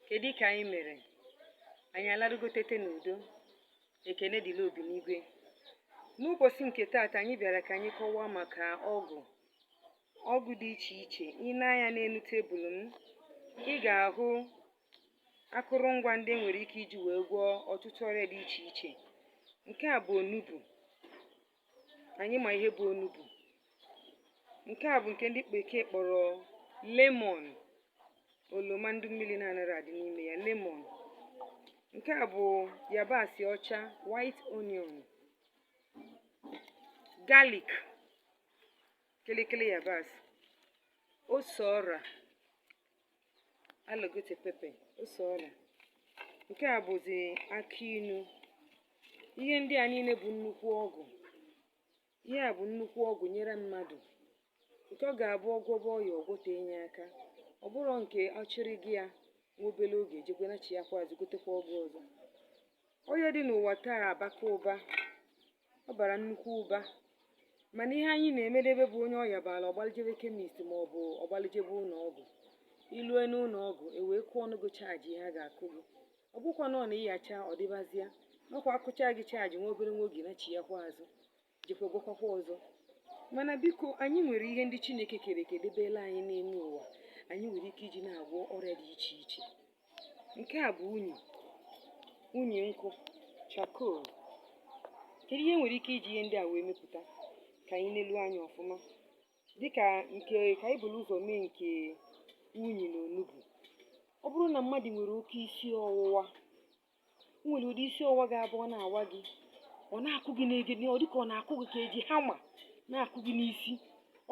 kedu ka anyị mere anyị alarugo tete n'udo ekene dịlị obi n'igwe n'ụbọchị nke taata anyị bịara ka anyị kọwaa maka ọgwụ ọgwụ dị iche iche i nee anya n'enu tebụl m ị ga-ahụ akụrụngwa ndị e nwere ike iji wee gwọọ ọtụtụ ọrịa dị iche iche nke a bụ onugbu anyị ma ihe bụ onugbu nke a bụ nke ndị bekee kpọrọ lemon oloma ndị mmiri na-anaghị adị n'ime ya lemon nke a bụ yabasị ọcha white onion garlic kịlịkịlị yabasị ose ọra alligator pepper ose ọla nke a bụzi akị inu ihe ndị a niile bụ nnukwu ọgwụ ihe a bụ nnukwu ọgwụ e nyere mmadụ nke ọ ga-abụ ọ gwọba ọya ọ gwọta enye aka ọ bụrọ nke ọ chụrụ gị ya nwa obere oge e jekwa nachiyakwa azụ gotekwa ọgwụ ọzọ ọya dị n'ụwa taa abaka ụba ọ bara nnukwu ụba mana ihe anyị na-emedebe bụ onye ọya bara ọ gbali jebe chemist ma ọ bụ ọ gbali jebe ụlọ ọgwụ i lue n'ụlọ ọgwụ e wee kụọnụ gị charge ihe a ga-akụ gị ọ bụkwa na ọ na ịyacha ọ dịbazịa nakwa akụcha gị charge nwa obere nwa oge nachiyakwa azụ jekwa gwọkwakwa ọzọ mana biko anyị nwere ihe ndị chineke kere eke debelụ anyị n'elu ụwa anyị nwere ike iji na-agwọ ọrịa dị iche iche nke a bụ unyi unyi nkụ charcoal kedu ihe e nwere ike iji ihe ndị a wee mepụta ka anyị nelu anya ọfụma dịka nke ka anyị buru ụzọ mee nke unyi na onugbu ọ bụrụ na mmadụ nwere oke isi ọwụwa nwere ụdị isi ọwa ga-abụ ọ na-awa gị ọ na-akụ gị n'egede ọ dịka ọ na-akụ gị ka e ji hammer na-akụ gị n'isi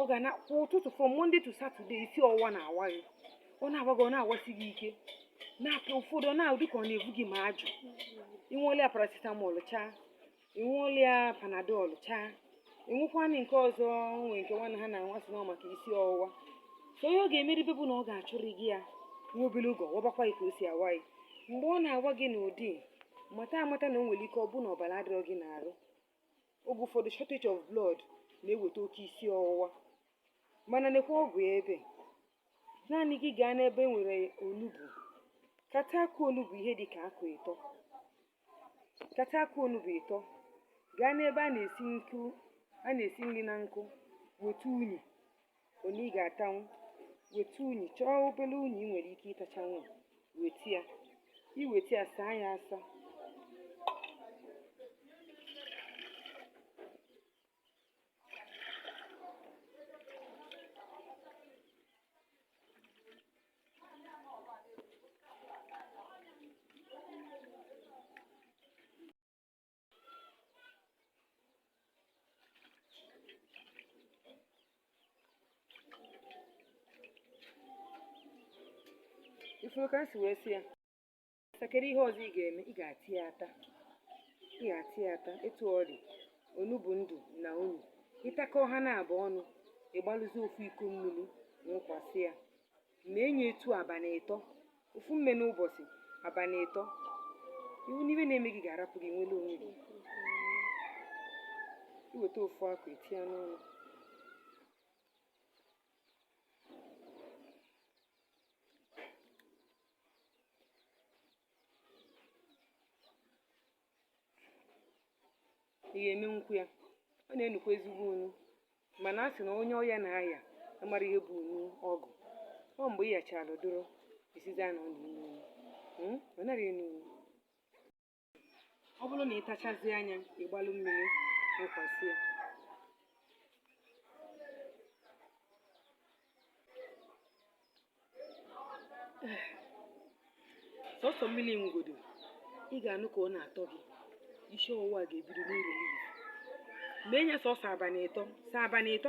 ọ ga na-akụ ụtụtụ from Monday to Saturday isi ọwa na-awa gị ọ na-awa gị ọ na-awasị gị ike na-apịa ụfọdụ ọ na-ahụ dịka ọ na-ebu gị ma ajụ i were paracetamol chaa i wele panadol chaa i wekwanụ nke ọzọ nwee nke nwanne ha na-anwa sị na ọ maka isi ọwụwa so ihe ọ ga-emeribe bụ na ọ ga-achụrụ gị ya nwa obere oge ọ wabakwa ya ka o si awa ya mgbe ọ na-awa gị n'ụdị mata amata na o nwere ike ọ bụ na ọbara adịrọ gị n'arụ oge ụfọdụ shortage of blood na-eweta oke isi ọwụwa mana nekwa ọgwụ ya ebe a naanị gị gaa n'ebe e nwere onugbu kata akụ onugbu ihe dị ka akụ ịtọ Kata akụ onugbu ịtọ, gaa n'ebe a na-esi nkụ a na-esi nri na nkụ weta unyi unyi ị ga-atanwu weta unyi chọọ obere unyi ị nwere ike ịtachanwu weta ya i weta ya saa ya asa ị fụrụ ka m si wee sie kedu ihe ọzọ ị ga-eme ị ga-ata ya ata ị ga-ata ya ata etu ọ dị onugbu ndụ na unu ị takọọ ha naabọ ọnụ ị gbalụzie ofu iko mmiri nwụkwasị ya mee ya etu abalị ịtọ ofu mme n'ụbọchị abalị ịtọ ị hụ na ihe na-eme gị ga-arapụ gị nwere onwe gị i weta ofu akụ etinye n'ọnụ ị ga-emenwukwu ya ọ na-enukwa ezigbo unu mana a sị na onye ọya na-aya amara ihe bụ unu ọgwụ ọ mgbe ị yachara doro ị sịzị na ọ na-enu unu ọ naghị enu unu ọ bụrụ na ị tachazie ya ị gbalụ mmiri nwụkwasị ya sọsọ mmiri ngwodo ị ga-anụ ka ọ na-atọ gị isi ọwụwa ga-ebido n'uru n'iyi mee ya sọsọ abalị ịtọ sọ abalị ịtọ